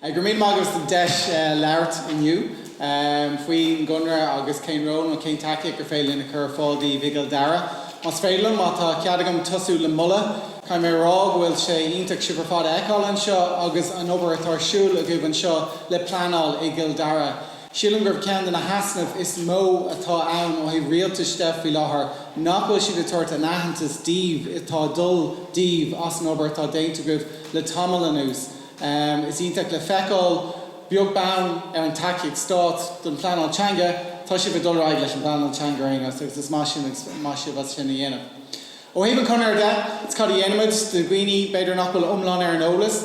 Go raibh míle maith agat as an deis labhairt inniu faoin gConradh agus cén ról agus cén tacaíocht gur féidir linn a chur ar fáil daoibh i gCill Dara. Más féidir liom, má tá cead agam tosú le moladh, caithfidh mé a rá go bhfuil sé iontach sibh ar fad a fheiceáil anseo agus an obair atá ar siúl agaibh anseo le pleanáil i gCill Dara. Sílim gurb é ceann de na heasnaimh is mó atá ann ó thaobh rialtais de faoi láthair nach bhfuil siad ag tabhairt an aitheantais daoibh atá ag dul daoibh as an obair atá déanta agaibh le tamall anuas. Is iontach le feiceáil, beag beann ar an tacaíocht stáit don phleanáil teanga, tá sibh ag dul ar aghaidh leis an bpleanáil teanga ar aon nós agus an-mhaith sibh as sin a dhéanamh. Ó thaobh an Chonartha de, agus cad a dhéanaimid do dhaoine, b'fhéidir, nach bhfuil iomlán ar an eolas.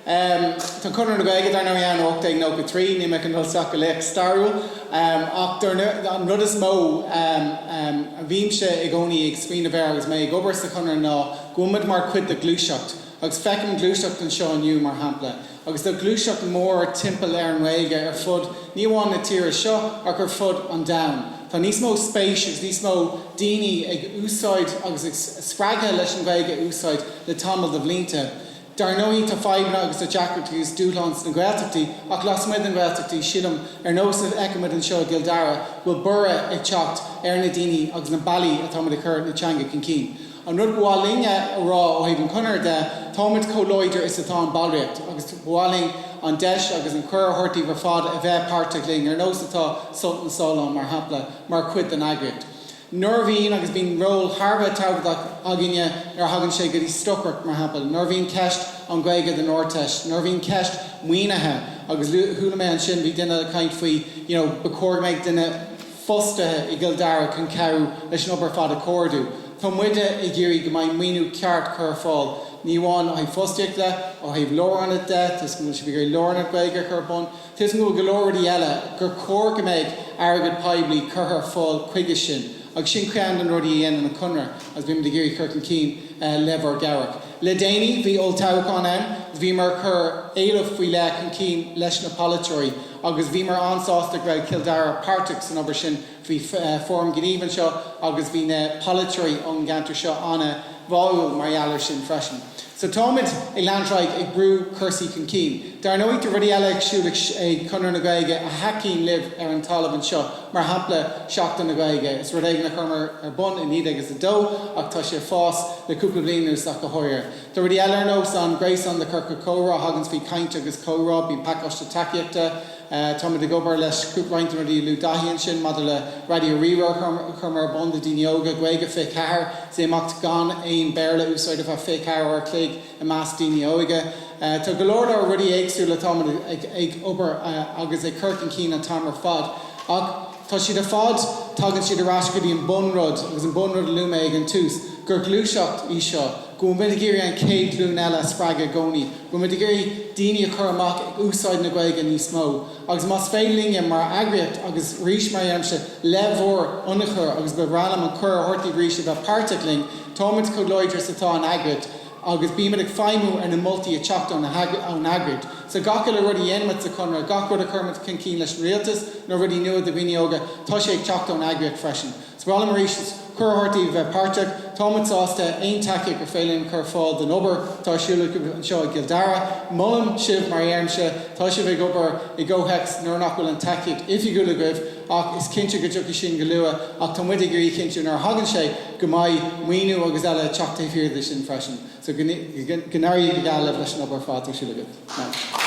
Tá an Conradh na Gaeilge, dar ndóigh, ann ó 1893, níl mé ag dul isteach go léacht stairiúil, ach an rud is mó a bhímse i gcónaí ag smaoineamh air agus mé ag obair sa Chonradh ná go bhfuilimid mar chuid de ghluaiseacht, agus feicim gluaiseacht anseo inniu, mar shampla, agus tá gluaiseacht mhór timpeall ar an nGaeilge ar fud ní amháin na tíre seo ach ar fud an domhain. Tá níos mó spéis agus níos mó daoine ag úsáid agus spreagtha leis an nGaeilge a úsáid le tamall de bhlianta. Dar ndóigh tá fadhbanna agus tá deacrachtaí agus dúshláin sna Gaeltachtaí ach lasmuigh de na Gaeltachtaí sílim, ar nós a fheicimid anseo i gCill Dara, go bhfuil borradh ag teacht ar na daoine agus na bealaí atáimid ag cur na teanga chun cinn. An rud ba mhaith linn a rá ó thaobh an Chonartha de, táimid chomh láidir is atá an ballraíocht agus ba mhaith linn an deis agus an cuireadh a thabhairt daoibh ar fad a bheith páirteach linn, ar nós atá Sult na Sollán, mar shampla, mar chuid den eagraíocht. Nuair a bhíonn, agus bíonn, ról thar a bheith tábhachtach againne nuair a thagann sé go dtí stocaireacht, mar shampla, nuair a bhíonn ceist an Ghaeilge don Ardteist, nuair a bhíonn ceist maoinithe agus chuala mé ansin bhí duine ag caint faoi you know ba chóir go mbeadh duine fostaithe i gCill Dara chun cabhrú leis an obair ar fad a chomhordú. Tá muide ag iarraidh go mbeidh maoiniú ceart curtha ar fáil, ní amháin ó thaobh fostaíocht de, ó thaobh lárionad de, tá a fhios agam go bhfuil sibh ag iarraidh lárionad Gaeilge a chur ar bun, tá a fhios agam go bhfuil go leor rudaí eile gur chóir go mbeidh airgead poiblí curtha ar fáil chuige sin agus sin ceann de na rudaí a dhéanann an Conradh agus bímid ag iarraidh cur chun cinn le bhur gcabhair. Le déanaí bhí olltoghchán ann agus bhíomar ag cur éilimh faoi leith chun cinn leis na polaiteoirí. agus bhíomar an-sásta go raibh Cill Dara páirteach san obair sin. Bhí Fóram Gnímh anseo agus bhí na polaiteoirí ón gceantar seo an-bháúil mar gheall air sin freisin. So táimid ag leanúint ar aghaidh ag brú cúrsaí chun cinn. Dar ndóigh, tá rudaí eile ar siúl ag Conradh na Gaeilge a thacaíonn libh ar an talamh anseo, mar shampla Seachtain na Gaeilge. Is rud éigin a chuireamar ar bun i 1902 ach tá sé ag fás le cúpla bliain anuas ach go háirithe. Do rudaí eile ar nós an gréasán de chiorcail chomhrá a thaganns faoi caint agus comhrá, bíonn pacáiste tacaíochta, táimid ag obair leis roinnt den rudaí a luaigh Daithí ansin maidir le Raidió Rí-Rá a chur ar bun do dhaoine óga, Gaeilge 24 is é imeacht gan aon Béarla a úsáid ar feadh 24 uair a chloig i measc daoine óga. Tá go leor leor rudaí éagsúla atáimid ag obair agus ag cur chun cinn an t-am ar fad ach tá siad ar fad, tagann siad ar ais go dtí an bun rud agus an bun rud a luaigh mé ag an tús, gur ghluaiseacht í seo. go bhfuil muid ag iarraidh an chéad ghlúin eile a spreagadh i gcónaí, go bhfuil muid ag iarraidh daoine a chur amach ag úsáid na Gaeilge níos mó. Agus más féidir linne mar eagraíocht, agus arís, mar a dheirimse, le bhur n-ionchur, agus ba bhreá liom an cuireadh a thabhairt daoibh arís a bheith páirteach linn, táimid chomh láidir is atá an eagraíocht, agus bímid ag feidhmiú ar na moltaí a theacht ón eagraíocht. So gach uile rud a dhéanaimid sa Chonradh, gach rud a chuirimid chun cinn leis an rialtas, nó rudaí nua do dhaoine óga, tá sé ag teacht ón eagraíocht freisin. So ba bhreá liom arís cuireadh a thabhairt daoibh a bheith páirteach. Táimid sásta aon tacaíocht gur féidir linn a chur ar fáil don obair atá ar siúl agaibh anseo i gCill Dara. Molaim sibh, mar a dheirimse, tá sibh ag obair i gcomhthéacs nuair nach bhfuil an tacaíocht oifigiúil agaibh ach is cinnte go dtiocfaidh sin go luath ach tá muid ag iarraidh a chinntiú nuair a thagann sé go mbeidh maoiniú agus eile ag teacht taobh thiar de sin freisin. So go n-éirí go geal libh leis an obair ar fad atá ar siúl agaibh.